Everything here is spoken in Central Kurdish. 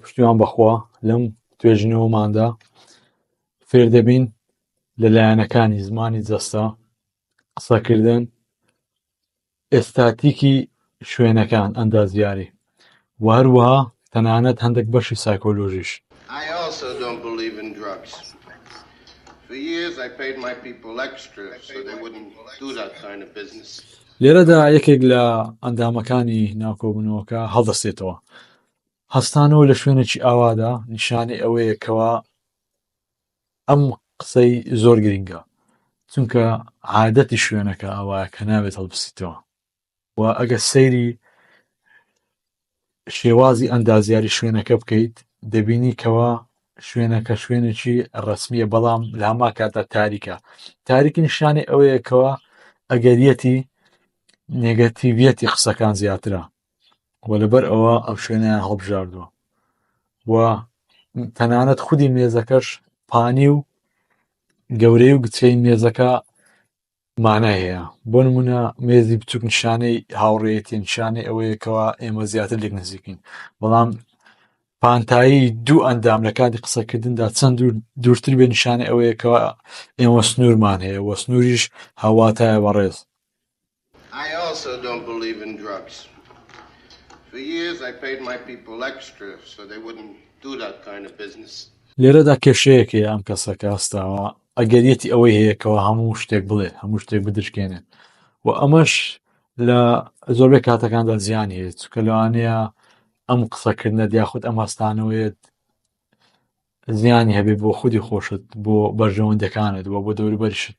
پشتیوان بەخوا لەم توێژینەوەماندا فێر دەبین لە لایەنەکانی زمانی جەستە قسەکردن ئێستاتیکی شوێنەکان ئەندازیاری و هەروەها تەنانەت هەندێک بەشی سایکۆلۆژیش لێرەدا یەکێک لە ئەندامەکانی ناوکۆبنەوەکە هەڵدەستێتەوە هەستانەوە لە شوێنێکی ئاوادا نیشانەی ئەوەیە کەوا ئەم قسەی زۆر گرنگە چونکە عادەتی شوێنەکە ئاوایە کە ناوێت هەڵبسیتەوە و ئەگە سەیری شێوازی ئەندازیاری شوێنەکە بکەیت دەبینی کەوا شوێنەکە شوێنێکی ڕسمیە بەڵام لە هەما کاتە تاریکە تاریکی نیشانەی ئەوەیەکەوە ئەگەریەتی نێگەتیڤەتی قسەکان زیاترە و لەبەر ئەوە ئەو شوێنیان هەڵبژاردووە و تەنانەت خودی مێزەکەش پانی و گەورەی و گچەی مێزەکە مانای هەیە بۆ نمونە مێزی بچوک نیشانەی هاوڕێتی نیشانەی ئەوەیەکەوە ئێمە زیاتر لێک نزیکین بەڵام پانتایی دوو ئەندام لە کاتی قسەکردندا چەند دوورتر بێ نیشانەی ئەوەیەکەوە ئێمە سنوورمان هەیە وە سنووریش هاواتایە بەڕێز I also don't believe in drugs for years I paid my people extra so they wouldn't do that kind of business. لێرەدا کێشەیەک هەیە ئەم کەسە کە هەستاوە ئەگەریەتی ئەوەی هەیە کەەوە هەموو شتێک بڵێ هەموو شتێک بدرکێنێت و ئەمەش لە زۆربەی کاتەکاندا زیان هەیە چکە لەوانەیە ئەم قسەکردنە دیاخود ئەم هەستانەوەیت زیانی هەبێت بۆ خودی خۆشت بۆ بەرژەوەندەکانت و بۆ دەوروبەریشت